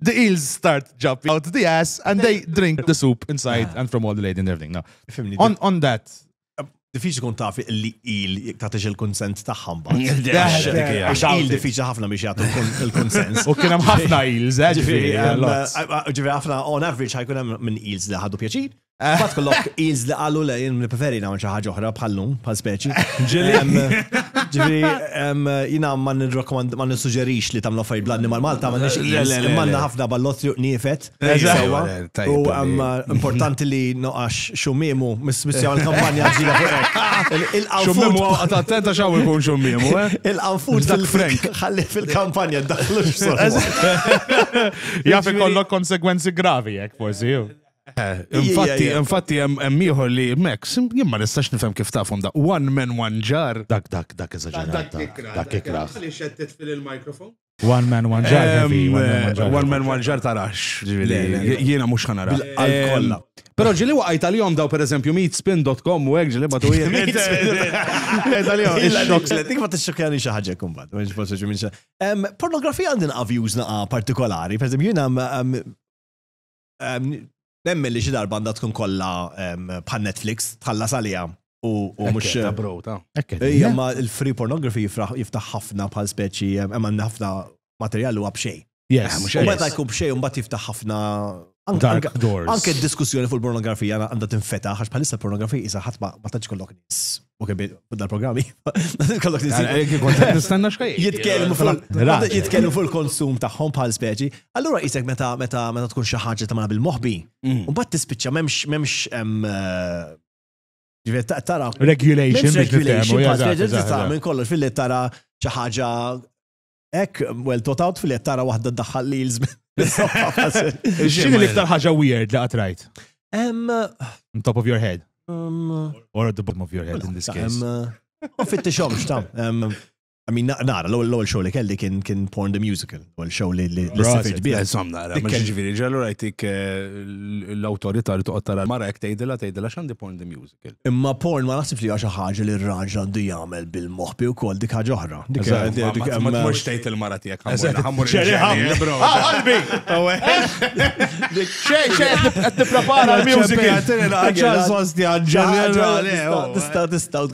the eels start jumping out the ass and they drink the soup inside and from all the lady and everything. Now, Fimni, on, on that, diffiċ kun taf li il tatix il-konsent taħħam ba. Il diffiċ ħafna biex jgħatu il-konsens. U kienem ħafna ils, eh, ġifiri. Ġifiri ħafna, on average ħajkun hemm minn ils li ħadu pjaċir, Bat kollok eels li qalu le jien preferi nagħmel xi ħaġa oħra bħal lum, bħal speċi. Ġifieri jiena ma nirrakkomand ma nissuġġerix li tagħmlu affarijiet bl-annimal Malta ma nix eels, imma għandna ħafna ballotri u qniefet. Sewwa. U hemm importanti li noqax xumiemu mis-missja l-kampanja ġdida fuq hekk. Il-qanfut Għat attenta xaw ikun xummiemu, eh? il-qanfut Dak Frank. ħalli fil-kampanja daħlu x'sor. Jaf ikollok konsegwenzi gravi jekk forsi. Eh, infatti, infatti hemm ieħor li Max, jien ma nistax nifhem kif tafhom da. One man one jar. Dak dak dak eżaġerat. Dak ikra. Li xettet fil-mikrofon. One man one jar. Eh, one man one jar tarax. Jiena mhux ħanara. Għal-kolla. Pero ġili waqajt għal-jom daw per eżempju meetspin.com u għek ġili batu jien. Dik ma t-xokjani xaħġa kumbat. Pornografija għandin għavjużna partikolari, per eżempju jina Nemmen li xi darba għandha tkun kollha bħal Netflix tħallas għaliha u mhux. Ekk, bro, ta'. Ekk. Ejja, ma il-free pornography jiftaħ ħafna bħal speċi, hemm ħafna materjal huwa b'xejn. Yes. U meta jkun b'xejn mbagħad jiftaħ ħafna Dark doors. Anke d-diskussjoni fuq il-pornografija għandha tinfetaħ għax bħalissa l-pornografija isa ħadd ma tantx kollok nies Ok, bidda l-programmi. Kollok Nistanna xkaj. Jitkellmu fuq il-konsum tagħhom bħal speċi. Allura jisek meta meta meta tkun xi ħaġa tagħmel bil-moħbi. Mm. U mbagħad tispiċċa m'hemmx m'hemmx eh, tara regulation regulation minn kollox fil tara xi ħaġa Ek, well thought out fil tara wahda daħħal li jilżmen. Xini l-iktar ħaġa weird li għatrajt? On top of your head. Or at the bottom of your head in this case. Ma fittixom, xtam. I mean, nara, l-ewwel show li kelli kien kien Porn the Musical, l show li li sifit bih. Insomma, nara, ma ġifieri ġallu rajtik eh, l-awtorità li toqgħod tara mara jekk tgħidilha tgħidilha x'għandi Porn the Music. Imma porn ma naħsibx li xi ħaġa li r-raġel għandu jagħmel bil-moħbi wkoll dik ħaġa oħra. Dik ma tmux tgħid il-mara tiegħek ħammur. Qalbi! Xejn xejn qed tipprepara l-music. Tista' tista'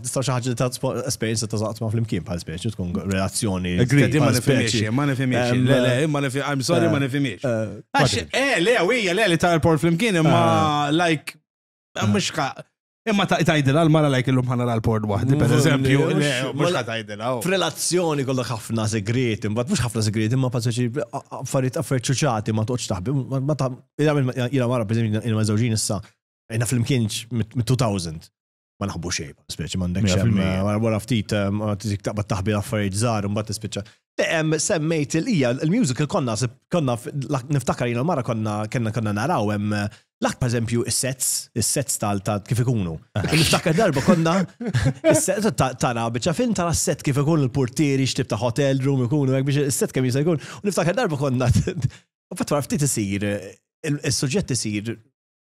tista' xi ħaġa ta' esperjenza ta' żaqt ma' flimkien bħal speċi tkun relazzjoni. Ma nifhimiex, ma nifhimiex. Le, le, ma nifhimiex. I'm sorry, ma nifhimiex. Eh, le, hija le li ta' l-por flimkien imma like Mux ka. Imma tajdila l-mara lajk illum ħana l-port wahdi, per eżempju, mux tajdila. Oh. F'relazzjoni kollok ħafna segret, imbat mux ħafna segret, imma paċeċi affarijiet affarijiet ċuċati ma toċ taħbi. Ma ta' jina mara, per eżempju, jina mażawġin issa, jina fl-imkienġ mit-2000 ma naħbu xej, speċi mandek xem, wara ftit, eh, ma taqba taħbi l-affarijiet zar, un bat speċa. Semmejt il-ija, il-musical konna, konna, niftakar jina l-mara konna, konna konna naraw, hemm l-ak per eżempju is-sets, is-sets tal ta' kif ikunu. Niftakar darba konna, is-sets tara bieċa film tara s-set kif ikun il-portieri, xtib ta' hotel room ikunu, biex is-set kemm jista' jkun. Niftakar darba konna, u fatt ftit isir, il-suġġett isir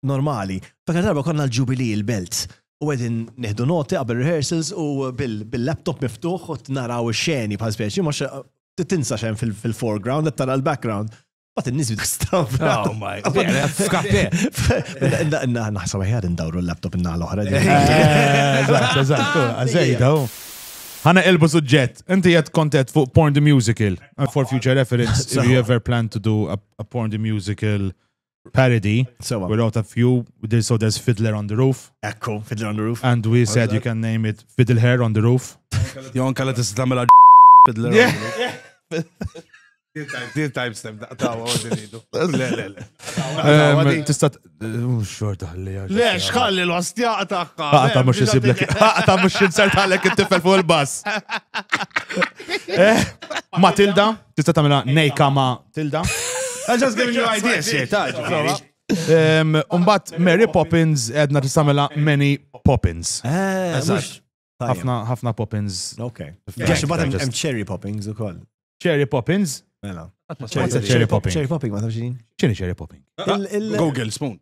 normali. Dak darba konna l-ġubili il-belt. U għedin neħdu noti qabel rehearsals u bil-laptop miftuħ u naraw xeni bħal speċi, mux tinsa xen fil-foreground, għed tara l-background. Bat n-nis bid straw. Oh my god. F'kafe. Naħseb ħjar indawru l-laptop inna l-oħra. Eżatt, eżatt, għazejda. Ħana elbu suġġett. Inti jett kontet fuq Porn the Musical. For future reference, if you ever plan to do a, a Porn the Musical parody. Sewa. We wrote a few, there- so there's Fiddler on the Roof, Ekku, Fiddler on the Roof. and we said you can name it Fiddle Hair on the Roof. Jon kalla tista' tagħmilha Fiddler. Yeah. Deal time step daqtaw għodin idu. Le, le, le. Um, Tista' mhux xorta ħalli għax. Le, xħalli l-ostja taqqa. Aqta mhux isiblek. Aqta mhux insert għalek it-tifel fuq il-bass. Eh, Matilda, Tista' tagħmilha nejka ma' tilda. I just giving you ideas here, ta' ġifieri. Em, Umbat Mary Poppins edna tista' tagħmilha Many Poppins. Eh, Eżatt. Ħafna ħafna Poppins. Ok. Għax bat hemm- hemm cherry poppings ukoll. Cherry Poppins. Mela. What's a cherry popping? Cherry popping ma tafx din. X'inhi cherry popping? Il- il- Google spoon.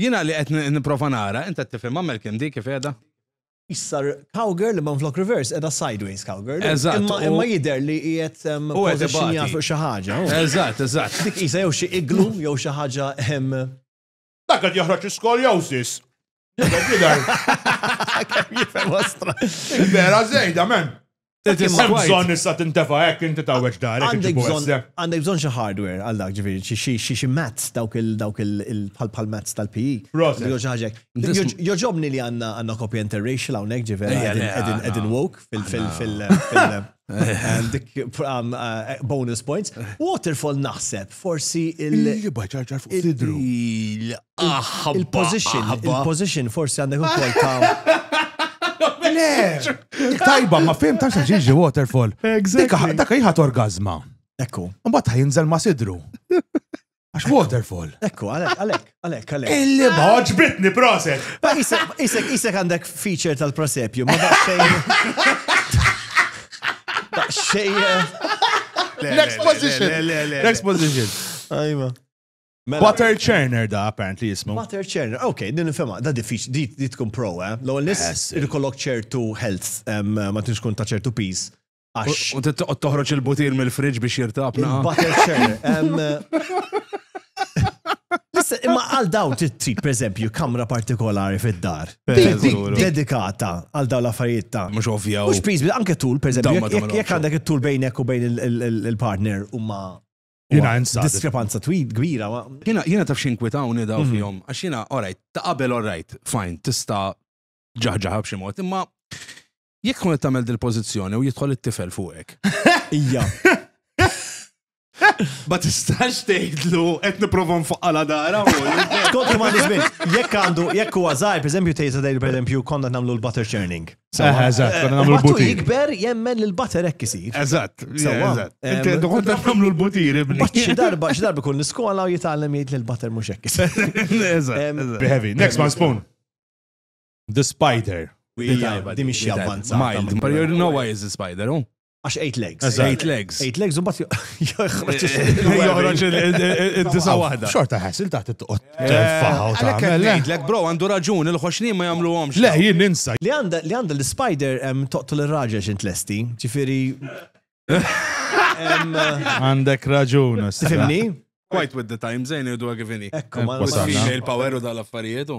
Jiena li qed nipprova nara, int qed tifhimha Malcolm dik kif qiegħda? Issar cowgirl imma minflok reverse qiegħda sideways cowgirl. Eżatt. Imma jidher li qiegħed positionja fuq xi ħaġa. Eżatt, eżatt. Dik qisha jew xi igloo jew xi ħaġa hemm. Dak qed joħroġ l-iskoljosis. Jidher. Kemm jifhemha stramba. Vera żejda m'hemm. Hemm bżonn issa tintefa' hekk inti tgħawweġ darek iġibu issa. Għandek bżonn xi hardware għal dak ġifieri xi xi mats dawk il dawk il bħal mats tal-PE. Proset. Jew xi ħaġa hekk. Jogħġobni li għandna għandna copy interracial hawnhekk ġifieri qegħdin qegħdin woke fil fil fil dik bonus points. Waterfall naħseb forsi il. Li baċarċar fuq sidru. Il-position, il-position forsi għandek ukoll ta' Le! Tajba, ma fim ta' ġiġi waterfall. Dak jħat orgazma. Ekku. Mbatt jinżel ma sidru. Għax waterfall. Ekku, għalek, għalek, għalek, għalek. Illi bħoġ bitni proset. Isek, isek għandek feature tal-prosepju, ma da' xejn. Da' xejn. Next position. Next position. Ajma. Mela- Butter churner da, apparently jismu. Butter churner, ok, din nifema, da diffiċ, di di tkun pro, eh? Law nis Yes. irkollok ċertu health, em, ma tinx kun ta' ċertu piż. Għax U tittoqgħod toħroġ il-butir mill-fridge biex jirtab naqa. il-butter churner. em, Listen, imma għal daw trid trid, per eżempju, kamra partikolari fid-dar. Dik- dik- Eżuru. Dedikata għal daw l-affarijiet ta' Mhux ovvja. Mux piż, anke tul, per Dawn ma eżempju, jekk- jekk tagħmilhomx. jekk għandek it-tul bejnek u bejn il- il- il- il-partner u ma Jena insad. Diskrepanza twid kbira. Jena, jena taf xinkwitawni daw mhm. fjom. Għax jena, alright, ta' qabel alright, fajn, tista ġaħġaħab xi mod, imma jekk tkun qed tagħmel dil-pożizzjoni u jidħol it-tifel fuqek. Ija. Ma tistax tgħidlu qed nipprova nfoqqala dara. Kont ma nisbin, jekk għandu, jekk huwa żgħar, pereżempju tgħid dejl pereżempju konna nagħmlu l-butter churning. Sawa, eżatt, konna nagħmlu l-butir. jikber jemmen li l-batter hekk isir. Eżatt, sawa. Inti għandu kont nagħmlu l-butir ibni. Batt xi darba, xi darba kull l-iskola u jitgħallem jgħid li l-batter mhux hekk isir. Eżatt. Behevi, next one spoon. The spider. Di mhix xi avvanzata. Mild. But you know why is the spider, oh? Għax 8 legs. 8 legs. 8 legs un bat joħroġ il-disa wahda. Xorta ħasil taħt it-toqot. Faħaw ta' Lek bro, għandu raġun, il-ħoxni ma jamlu għomx. Le, jien ninsa. Li għanda l-spider toqtu l-raġel xint lesti, ġifiri. Għandek raġun. Tifimni? Quite with the time, zejn jiddu għagivini. Ekku, ma' female power u dal-affarijietu.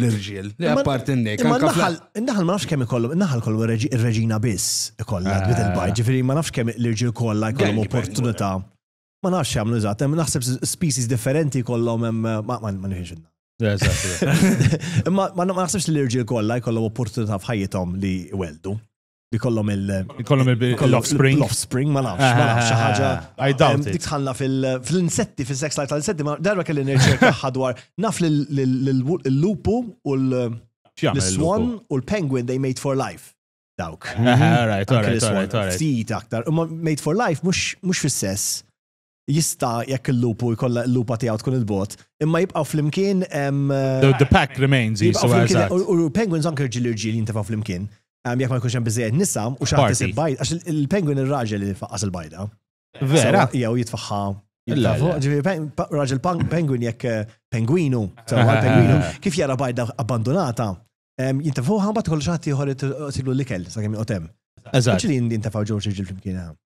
l-irġiel, li apparti n-nek. Imma naħal, naħal ma nafx kemm ikollhom, naħal kollu ir-reġina biss ikollha bit eh. il-bajt, ġifieri ma nafx kemm l-irġiel kollha jkollhom opportunità. Ma nafx jagħmlu eżatt, hemm naħseb species differenti kollhom hemm ma nifhimx Imma ma naħsebx li l-irġiel kollha jkollhom opportunità f'ħajjithom li weldu. li kollom il- Kollom il-offspring. L-offspring, ma nafx, ma nafx, xi ħaġa. Ah, I doubt it. Dikħalla fil-insetti, fil-sex life tal-insetti, ma darba kelli nirċerkaħħa dwar. Naf li l-lupu u l-swan u l-penguin they made for life. Dawk. Alright, alright, alright. Ftit aktar. Made for life mux fil-sess. jista' jekk il-lupu jkollha il-lupa tiegħu tkun il-bogħod, imma jibqgħu flimkien hemm. The pack remains jisu eżatt. U l-penguins anke rġiel irġiel jintefgħu flimkien. Jekk ma jkunx hemm biżejjed nisa u xi ħadd isib bajda, għax il-penguin ir-raġel li jfaqqas il-bajda. Vera. Jew jitfaħħa. Raġel penguin jekk eh, penguinu, penguinu, kif jara bajda abbandunata, jintefgħu ħabat kollu xi ħadd ieħor tilu l-ikel sakemm joqgħod hemm. Eżatt. Ġili jintefgħu ġewġ irġiel flimkien hemm.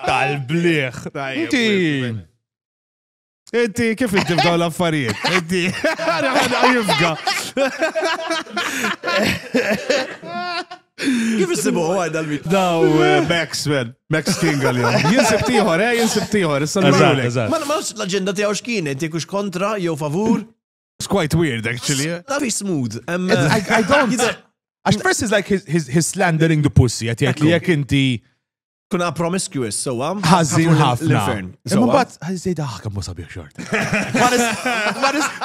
Tal-bliħ. Inti. Inti kif inti f'daw l-affarijiet? Inti. Għana għana jifga. Kif isibu għaj dal-mit? Daw eh, Max, man. Max King għal-jom. Jinsib tiħor, eh, jinsib tiħor. Ma nafx l-agenda tijaw xkien, inti kux kontra, jew favur. It's quite weird, actually. Eh. That is smooth. Um, I, I don't. Għax Press is like his, his, his slandering the pussy, għet jgħet li jek inti Kuna promiscuous, sowa. Ħażin ħafna. L-infern. Imma bat, ħażin daħka mu sabiħ xort.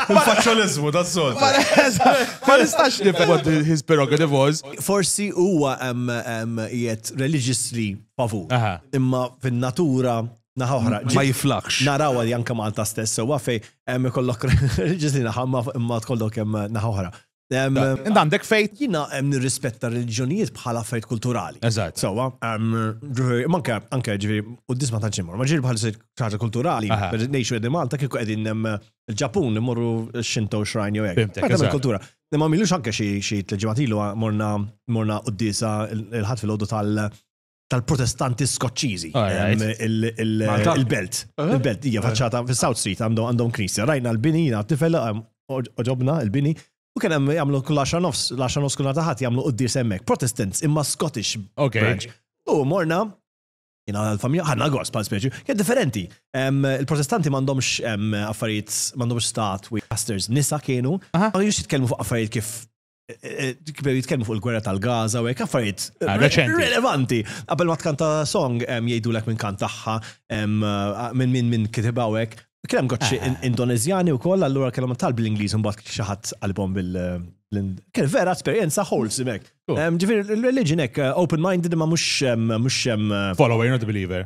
Il-faċċolizmu, that's all. Ma nistax nifhem what his prerogative was. Forsi huwa jiet religiously favur. Imma fin-natura naħa oħra. Ma jiflax. Naraw għal janka Malta stess, sowa fej, hemm ikollok religiously naħa imma tkollok hemm naħa oħra. Inda għandek fejt. Jina hemm nirrispetta r-reliġjonijiet bħala fejt kulturali. Eżatt. Sewa, manka anke ġifieri u disma ta' ġimgħa, ma ġieli bħal ħaġa kulturali, ngħixu qegħdin Malta kieku qegħdin il-Ġapun imorru Shinto shrine jew hekk. Għadha kultura. Imma milux anke xi tliġimgħat ilu morna morna qudiesa il-ħadd fil-għodu tal- tal-protestanti skoċċiżi. Il-belt. Uh-huh. Il-belt, hija faċċata fis-South Street għandhom knisja. Rajna l-bini jiena tifel oġobna l-bini. U kien hemm jagħmlu kull 10 nofs, l-10 nofs kull taħat jagħmlu quddies hemmhekk. Protestants imma Scottish branch. U morna jina l-familja ħanna għos pal speċi, kien differenti. Il-protestanti mandomx affarijiet, mandomx statwi, pastors, nisa kienu, għan jux jitkelmu fuq affarijiet kif kbew jitkellmu fuq il-gwerra tal-Gaza u hekk affarijiet ah, relevanti. Qabel ma tkanta song jgħidulek minn kant tagħha minn minn minn kitibha u hekk. Kien hemm gotxi ah. Indoneżjani wkoll allura kellhom tal bl-Ingliż imbagħad xi ħadd qalbhom bil Kien vera esperjenza wholesome hekk. Ġifieri religion hekk eh, open-minded ma mhux mhux eh, follower not believer.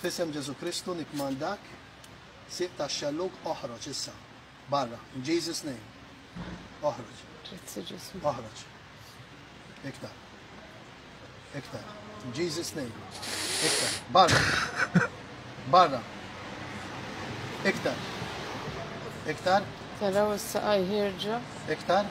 F'isem Ġesù Kristu nikkmandak, sieq tax-xellug, oħroġ issa. Barra. In Jesus' name. Oħroġ. Grazzi Ġesù. Oħroġ. Iktar. Iktar. In Jesus' name. Iktar. Barra. Barra. Iktar. Iktar. Taraw issa qajħirġa. Iktar.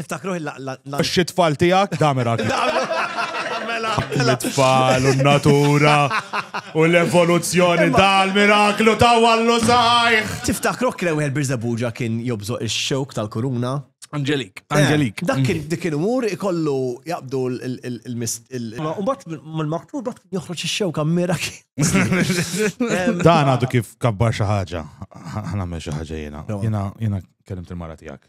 Tiftakru il Xi tfal tiegħek damera. Mela, mela. Tfal u natura u l-evoluzzjoni dal-miraklu ta' wallu sajħ. Tiftakru kien wieħed Birżebuġa kien jobżoq ix-xewk tal-kuruna. Angelik, eh, Angelik. Dak kien dik il-mur ikollu jaqbdu l-mist. Umbat mal-maktur bat joħroġ ix-xewk ammira Dan għadu kif kabbar xi ħaġa. Ħana xi ħaġa jiena. Jiena kellimt il-mara tiegħek.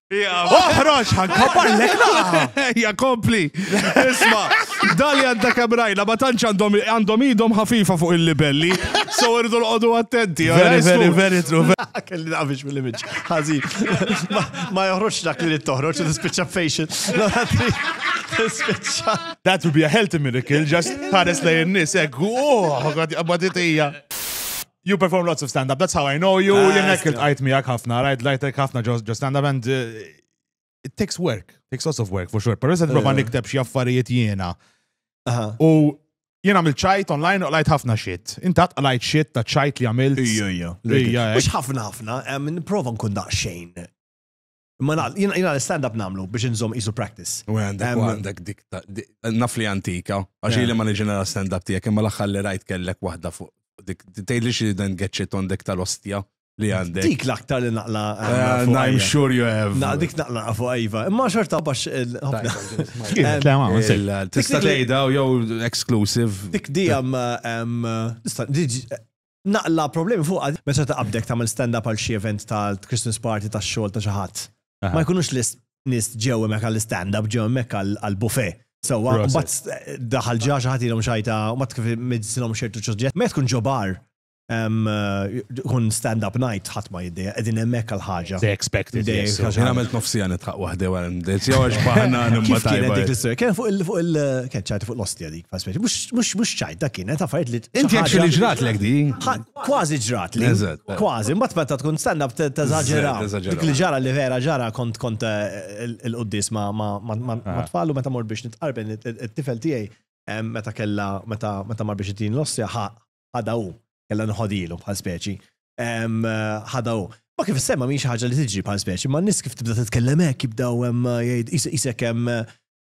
Oħroġ, ħankopparlek naqa. Ja kompli. Isma, dali għadda kebrajna, ma tantx għandhom idhom ħafifa fuq il-libelli. So irdu l-qodu attenti. Very, very, very true. Kelli naqbix mill-image. Ħazi. Ma joħroġ dak li toħroġ, tispiċċa patient. That would be a healthy miracle, just ħares lejn nis, ekku, oh, għadja, għadja, You perform lots of stand-up, that's how I know you. Ah, Jenek sta. il-tqajt miegħek ħafna, rajt lajtek ħafna ġo ġo stand-up and uh, it takes work, takes lots of work for sure. Pero se prova Eh. nikteb xi affarijiet jiena. Aha. U jiena għamilt ċajt online u qlajt ħafna shit. Intat qlajt shit ta' ċajt li għamilt. Ija, ija. Ija, Mux ħafna ħafna, em, niprofa nkun daqxejn. Ma naql, jina jina l-stand-up namlu biex nżom isu practice. U għandek, u għandek dik, naf li antika, għaxi li ma nġina l-stand-up tijak, imma l-axħar li rajt kellek wahda fuq, dik, tejli li xie dan għetxit għandek tal-ostja li għandek. Dik l-aktar li naqla. Eh, I'm sure you have. Na, dik naqla fuq għajva, imma xorta bax. Tista tejda u jow exclusive. Dik di għam, nista, Naqla' problemi fuqha meta taqabdek tagħmel stand up għal xi event ta' Christmas party ta' xogħol ta' xi ħadd. Ma jkunux nies ġew hemmhekk għal stand up ġew hemmhekk għal buffet. Sewwa mbagħad daħal ġa xi ħadd ilhom xajta u mbagħad kif middsilhom xertu suġġett. Meta tkun ġo bar tkun stand up night ħadd ma jiddejjaq qegħdin hemmhekk għal ħaġa. They expect it. Jien għamilt nofsija nidħaq waħdi wara l-mdejt. Jew għax baħna nimma tajba. Kien fuq il-kien ċajt fuq l-ostja di. Mux ċajt da kienet għaffariet li. Inti għaxi li ġratlek di. Kważi ġratli. Kważi, mbatt meta tkun stanna t-tazagġera. Dik li ġara li vera ġara kont kont eh, il-qoddis ma ah. tfallu meta mor biex nitqarben it-tifel tijaj eh, meta kella meta mar biex it-tin l-ossja ħadaw kella nħodilu bħal speċi. Eh, ħadaw. Ma kif semma miex ħaġa li tiġi bħal speċi, ma nis kif tibda t-tkellem hekk jibdaw jgħid isek hemm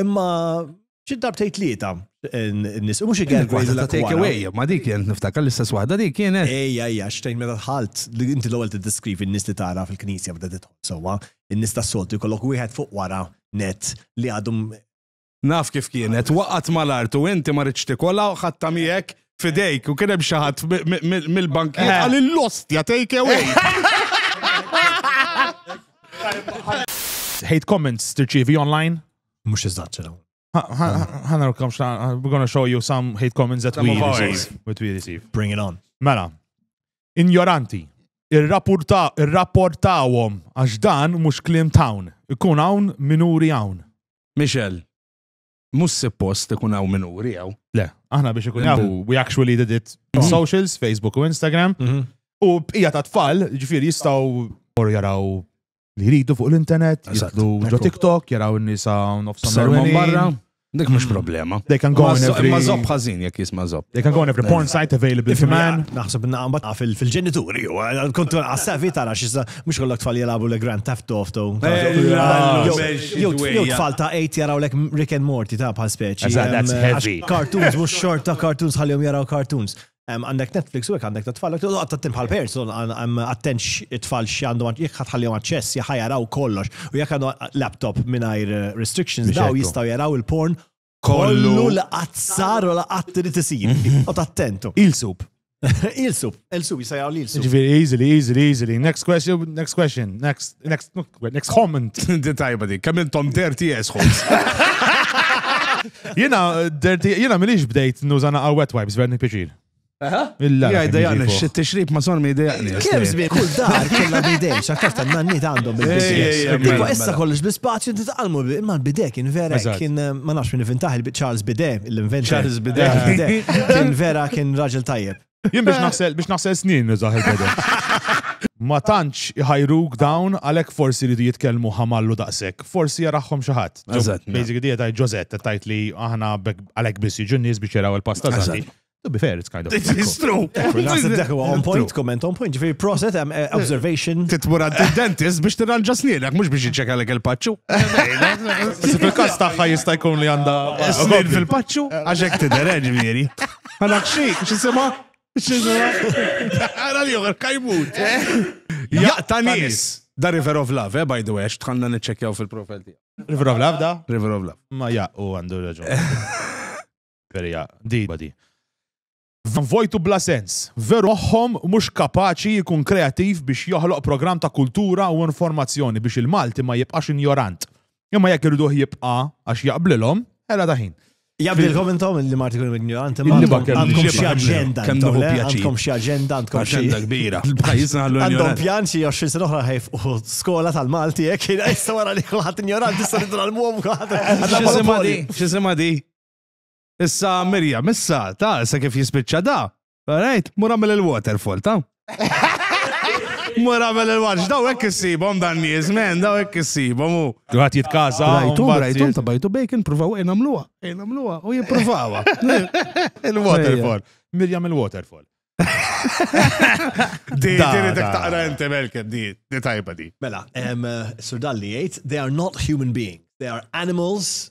Imma xi darbtej tlieta nis mhux igel ta' take away, ma dik jent niftakar l-istess waħda dik kienet. Ejja, ejja, xtejn meta tħalt li inti l-ewwel tiddeskrivi n-nies li tara fil-knisja bda titħol sewwa, in-nies tas-soltu jkollok wieħed fuq wara net li għadhom Naf kif kienet, waqgħet mal-art u inti ma ridx tikolha u ħadta miegħek fidejk u kien hemm xi ħadd mill-bankijiet eh. għal l-ostja take away. Hate comments tirċievi online? Mhux iżgħat ċedaw. Ħana rkom xna, we're gonna show you some hate comments that we receive. What we receive. Bring it on. Mela, injoranti, ir-rapportawhom għax dan mhux klim town, ikun hawn minuri hawn. Michelle. Mhux suppost ikun hawn min uri hawn. Le, aħna biex ikun hawn, we actually did it on socials, Facebook u Instagram. U bqija ta' tfal, ġifieri jistgħu or jaraw li jridu fuq l-internet, Eżatt. jitlu ġo Ekku. TikTok, jaraw n-nisa nofs Sermon barra, dik mhux problema. They can go Ma in zo- every- Ma zob ħażin jekk jisma' zob. They can go on every porn site available to man. Naħseb naqbad fil-ġenituri, u kontu għassavi tara xissa Mhux ikollok tfal jilagħbu li Grand Theft Auto. Jew tfal ta' 8 jaraw lek Rick and Morty ta' bħal speċi. That's heavy. Cartoons mhux xort ta' cartoons ħallihom jaraw cartoons. Għandek Netflix u hekk għandek ta' tfal. Għad tattim bħal parents attent it-tfal x'għandhom jekk ħadd ħallihom aċċess jaħa jaraw kollox. U jekk għandhom laptop mingħajr restrictions daw jistgħu jaraw il-porn Kollu li qatt sar u li qatt irid isir. U tattentu. Il-sup. Il-sup, il-sup, jisajjaw li il-sup. Ġviri, easily, easily, easily. Next question, next question, next, next, next comment. Di tajba di, kemm intom dirty assholes. Jena, dirty, jena minix bdejt nużana għal wet wipes, verni piċir. Jgħajda jgħajda, xit t-xrib ma sormi jgħajda jgħajda. Kem zbi, kull dar, kella bidej, xakkaf ta' nanni ta' għandhom bil-bidej. Iba issa kollox bl-spazju, inti taqalmu, imma l-bidej kien vera, kien ma nafx minn fintaħ il-Charles Bidej, l-inventor. Charles Bidej. Kien vera, kien raġel tajjeb. Jien biex naħsel, biex naħsel snin nizaħ il-bidej. Ma tantx iħajruk dawn għalhekk forsi li jitkellmu ħamallu daqshekk. Forsi jaraħħom xi ħadd. Basically dieta Ġozett tajt li aħna għalhekk biss jiġu nies biex jaraw il-pasta To be fair, it's kind of. It's true. Dak huwa on point, comment on point. Ġifieri proset hemm eh, observation. Titmur għand id-dentist biex tirranġa snienek, mhux biex jiċċekka lek il-paċċu. Bas fil-każ tagħha jista' jkun li għandha snien fil-paċċu għax hekk tidher eh, ġifieri. Għandek xi x'isimha? X'isimha? Ara li joħor kajmut. Jaqta' nies. Da River of Love, eh, by the way, tħanna niċċekkjaw fil-profil tiegħu. River of Love da? River of Love. Ma jaqu għandu raġun. Vera hija dejba di. Van vojt u bla sens. Veru moħħhom mhux kapaċi jkun kreattiv biex joħloq programm ta' kultura u informazzjoni biex il-Malti ma jibqax injorant. Imma jekk iriduh jibqa' għax jaqblilhom, hela ta' ħin. Jaqblilkom intom li Malti jkunu injoranti imma għandkom xi aġenda. Kemm nieħu pjaċir. Għandkom xi aġenda, għandkom xi aġenda kbira. Għandhom pjan xi 20 sena oħra ħajf u skola tal-Malti hekk issa wara li kulħadd injoranti issa nidru għal-mum kulħadd. Xi sema di? Issa Mirjam, issa, ta, issa kif jispiċċa da. Alright, mur għamil il-waterfall, ta. Mur għamil il-watch, daw hekk issibhom dan nies, men, daw hekk issibhom u. Għat jitkaza. Rajtu, rajtu, ta' bajtu bacon, provaw ejn għamluha, ejn għamluha u jipprovawha. Il-waterfall. Mirjam il-waterfall. Di, di, dak taqra inti melkem, di, di tajba di. Mela, em, eh, Sir Dalli jgħid, they are not human beings, they are animals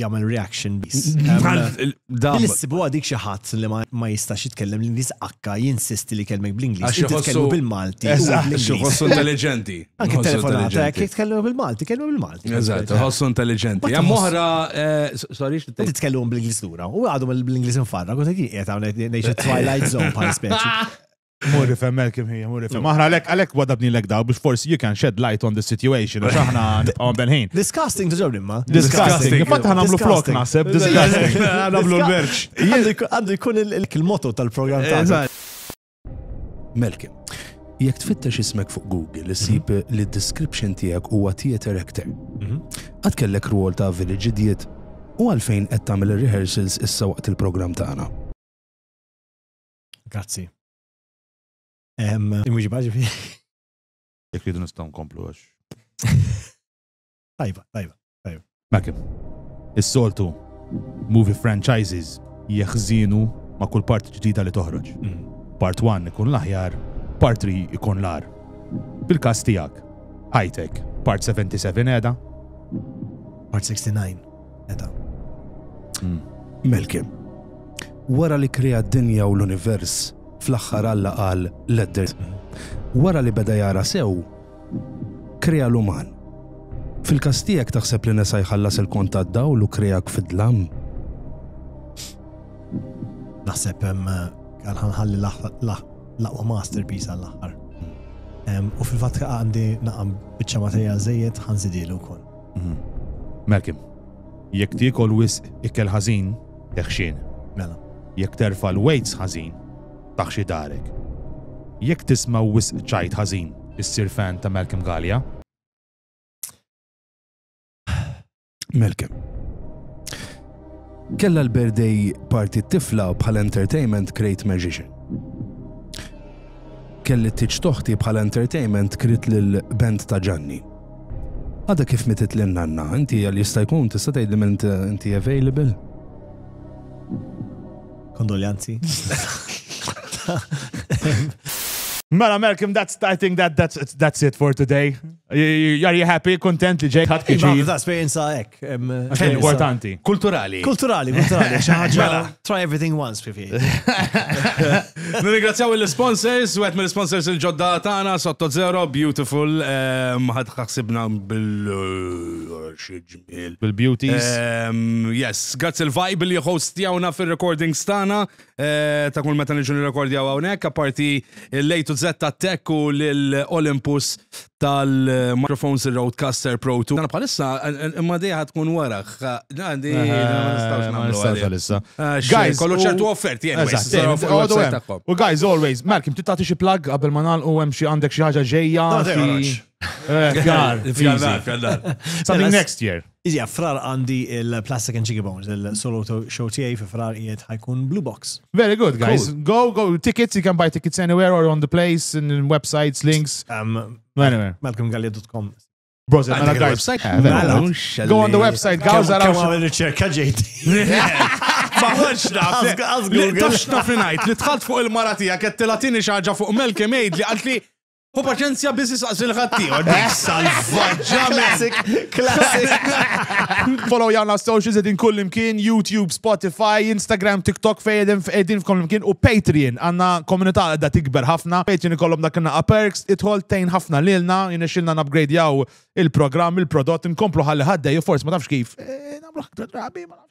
jagħmel reaction bis. Dan issibu għadik xi ħadd li ma jistax jitkellem l-Ingliż akka jinsisti li kelmek bl-Ingliż. Jitkellmu bil-Malti. Ħossu intelligenti. Anke telefonata jekk jitkellmu bil-Malti, kellmu bil-Malti. Eżatt, ħossu intelligenti. Hemm oħra eh, sorry x'tit. Titkellmu bl-Ingliż lura. U għadhom bl-Ingliż infarra, kont qed qiegħed hawn ngħix twilight zone bħal speċi. Mur ifhem Malcolm hija, mur ifhem. Aħna għalhekk għalhekk wadabni lek daw biex forsi you can shed light on the situation għax aħna nibqgħu belħin. Disgusting tuġob imma. Disgusting. Fatt aħna nagħmlu flok naħseb disgusting. Nagħmlu l-merċ. Għandu jkun il-moto tal-programm ta' Malcolm. Jekk tfittex ismek fuq Google, issib mhm. li d-description tiegħek huwa theater actor. Mhm. Għad kellek rwol ta' village idiot u għalfejn qed tagħmel rehearsals issa waqt il-programm tagħna. Grazzi. Mhux baġi fi. Jekk ridu nistgħu nkomplu għax. Tajba, tajba, tajba. Makim. Is-soltu movie franchises jeħżinu ma' kull part ġdida li toħroġ. Mm. Part 1 ikun l-aħjar, part 3 ikun l-ar. Fil-kas tijak, high-tech, part 77 edha? Part 69. Meta. Hmm. Melkim. Wara li krea d-dinja u l-univers, fl-aħħar Alla qal l-edder. Wara li beda jara sew, krea l-uman. Fil-kastijek taħseb li nesa jħallas il-kont għad-dawl u kreak fid-dlam. Naħseb għal-ħanħalli l-aqwa masterpiece għall-aħħar. U fil-fatka għandi naqam bieċa materjal zejiet ħanżidilu kol. Mhm. Malcolm, jekk tiekol wisq ikel ħażin, teħxin. Mela. Jekk terfa' l-weights ħażin, taħxi darek. Jekk tisma' wisq ċajt ħażin, issir fan ta' Malcolm Gallia. Malcolm. Kella l-birthday party tifla bħal entertainment Great Magician. Kelli t-tiċ toħti bħal entertainment krit l-band ta' Ġanni. Għadha kif mitiet lil nanna, inti għal jista' jkun tista' tgħidli m'int inti available? Kondoljanzi. Mela Malcolm, that's I think that that's that's it for today. Are you happy, kontent li ġej ħadd kiġi? Esperienza hekk. għalek. Importanti. Kulturali. Kulturali, kulturali. Mela. Try everything once, pipi. Nirringrazzjaw il-sponsors, u għet mill-sponsors il-ġodda tana, sotto zero, beautiful, ehm, ħad ħaxibna bil-bil-beauties. Ehm, yes, grazzi il-vibe li hostjawna fil-recording stana, Eh, ta' kull meta niġu nirrekordjaw hawnhekk, apparti l-A to Z ta' Tech u l-Olympus tal-Microphones il-Roadcaster Pro 2. Għana bħalissa, imma dejja tkun waraħ. Għandi, eh, ma nistax għalissa. Eh, guys, kollu ċertu offert, jien. U guys, always, Malcolm, titati xie plug għabel ma nal u hemm xi għandek xi ħaġa ġejja. Fjallar, fjallar. Something next year. Iżjed frar għandi il-Plastic and Cheeky Bones, il-solo show tiegħi fi frar qiegħed ħajkun Blue Box. Very good, guys. Cool. Go, go, tickets, you can buy tickets anywhere or on the place, in websites, links. Um, anywhere. MalcolmGallia.com. Bros, mela guys. Mela, go on the website, guys. Għaraw għamil riċerka ġejt. Ma ħonx naf. Tux naf li tħalt fuq il-mara tijak, għed tilatini xaġa fuq Melke Mejd li għalt li U paċenzja biss isaqsi l-ħaddieħor. Dik salvaġġament. Classic. Follow jawn la socials edin kull imkien, YouTube, Spotify, Instagram, TikTok fej edin f- edin f'kull imkien u Patreon. Għanna komunità għadda tikber ħafna. Patreon ikollhom dak inna perks, idħol tejn ħafna lilna, jinexilna nabgradjaw il-programm, il-prodott, nkomplu ħalli ħaddej, u forsi ma tafx kif. Eh, Namlu aktar drabi, ma nafx.